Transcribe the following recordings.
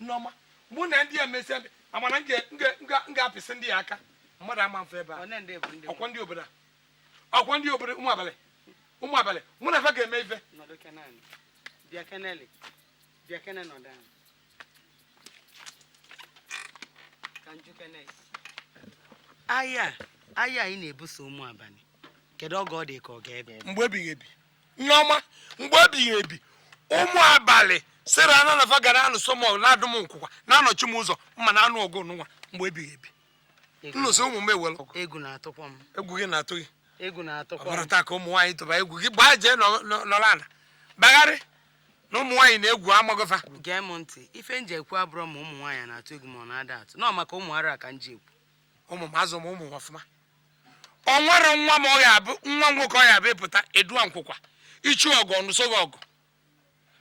nneọma mụ na ndị a mesịa amana m ga-apịsị ndị ya aka mmadụ ama afe ebe a ọkwọ ndị obodo a ọkwọ ndị obodo ụmụ abalị ụmụ abalị mụ na fa ga-eme ife a aya anyị na-ebuso ụmụ abalị kedu oge ọ dị ka ọ ga-ebe mgbe ebighị ebi nneọma mgbe ebighị ebi ụmụ abalị sịrị anụ na fa ga na-anụso m ọgụ na-adụ m nkwụkwa na-anọchi m ụzọ m na-anụ ọgụ nwa mgbe ebighị ebi nnụsị ụmụ m ewelụ egwu na-atụkwa m egwu gị na-atụ gị egwu na-atụkwa m ọ bụrọ taa ka ụmụ nwaanyị tụba egwu gị gbaa jee nọ- nọ- nọrọ ala bagharị na ụmụ nwaanyị na-egwu amago fa gee m ntị ife m ji ekwu abụrọ ma ụmụ nwaanyị na-atụ egwu ma ọ na-ada atụ na ọ maka ụmụaka ka m ji ekwu ụmụ m azụọ m ụmụ m ọfụma ọ nwere nwa m ọ ga-abụ nwa nwoke ọ ga-abụ ị pụta edua nkwụkwa ị chọ ọgụ ọ nụso gị ọgụ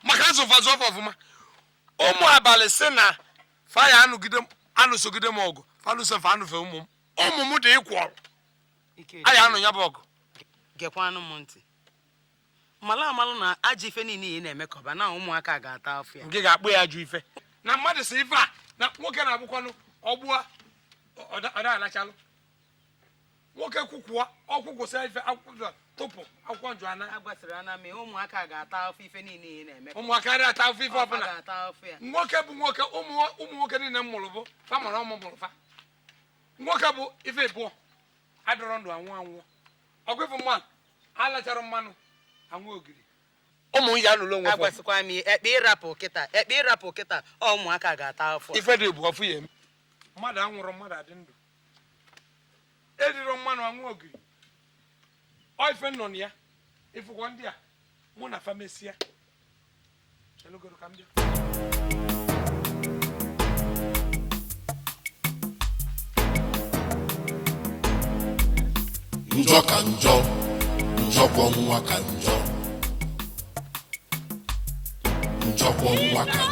maka azụ fa azụ ọfụ ọfụma ụmụ abalị si na fa ya-anụsogide m ọgụ fa nụsofe anụfe ụmụ m ụmụ m dị ịkwọrọ anyị anụ ya bụ ọgụ gekwanụ m ntị malụ amalụ na ajọ ife niile ị na-emekọba na ụmụaka ga-ata afụ ya nke ga-akpọ ya ajọ ife na mmadụ si ife a na nwoke na-abụkwanụ ọgbụa ọdaalachalụ nwoke kwukwuo ọkwụkwụsị ife akwụkwọ tụpụ akwụkwọ njụ ana agwasịrị ana mee ụmụaka ga-ata afụ ife niile ị na-eme ụmụaka dị ata afụ ife ọbụla nwoke bụ nwoke ụmụ nwoke niile m mụrụ bụ fa mụrụ ọmụ mụrụ fa nwoke bụ ife ịbụọ adịrọ ndụ anwụ anwụ ọgwịfụ mmanụ alachara mmanụ anwụ ogiri ụmụ ya nụrụ onwe agwasịkwa m ekpe ịrapụ kịta ekpe ịrapụ kịta ọ ụmụaka ga-ata afụ ife dị bụ ọfụ ya eme mmadụ anwụrụ mmadụ adị ndụ erirọ mmanụ anwụ ogiri ọ ife nọ na ya ị fụkwọ ndị a mụ na fa mesịa njọ ka njọ njọkwọ nwa ka njọ njọkwọ nwa ka njọ